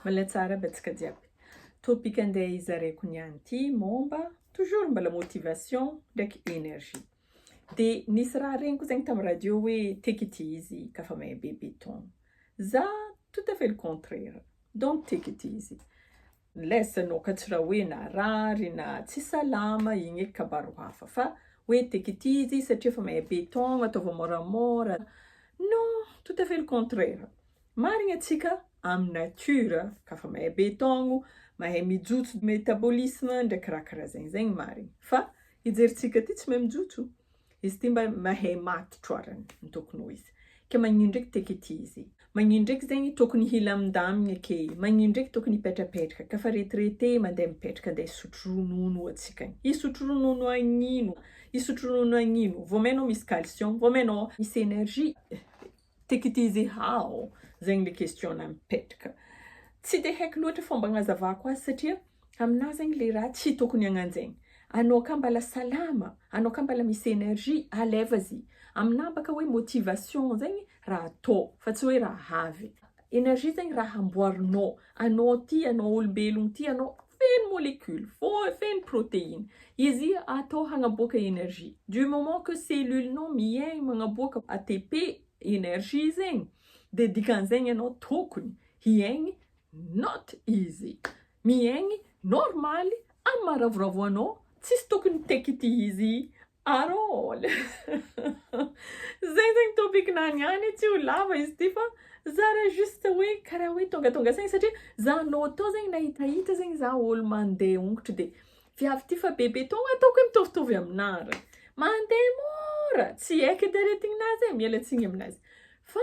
Mbola tsara aby antsika jiaby. Topic andeha hizaraiko niany ity momba toujours mbala motivation ndraiky energie. De nisy raha reniko zegny tam radio hoe tiako ity izy ka fa may be beton. Za tout à fait le contraire donc tiako ity izy. Less no katsiraoina rary na tsy salama igny eky kabaro hafa fa hoe tek ity izy satria efa mahay beton ataovy moramora non tout à fait le contraire marigny atsika amy nature ka fa mahay beton mahay mijotso metabolisme ndraiky raha karaha zegny zegny marigny fa hijeritsika ty tsy mahay mijotso Izy ity mba mahay matotro ary ny tokony ho izy. Ke magnino ndreky te kity izy. Magnino ndreky zegny tokony hilamindamigna ke. Magnino ndreky tokony hipetrapetraka. Ka fa retirete mandeha mipetraka andeha hisotro ronono oa tsika. Hisotro ronono agnino? Hisotro ronono agnino? Vao may anao misy calcium, vao may anao misy energie. Take it easy how? Zegny le question anah mipetraka. Tsy de haiko loatra fomba agnazavako azy satria aminah zegny le raha tsy tokony hagnanjegny. Anao ka mbala salama, anao ka mbala misy energie, à lève-y. Aminah baka hoe motivation zegny raha atao fa tsy hoe raha avy. Energizing raha amboarinao, anao ty, anao olombelogno ty, anao feno molecule, feno proteine, izy atao hagnaboaka energie, du moment que cellule nao miaigny magnaboaka ATP, energie, zegny de dikan'zegny anao tokony hiaigny not izy miaigny normaly amy maha ravoravo anao, tsisy tokony hitaiky ty izy At all! Zay zegny topic nany ihany, tsy ho lava izy ity fa zara juste hoe karaha hoe tongatonga saigny satria za anao tô zegny nahitahita zegny za ôlo mandeha hongotro de viavy ty fa bebe tô ataoko hoe mitovitovy aminà re, mandeha môra, tsy heky edy aretigninà zay, miala tsiny aminà zay fa.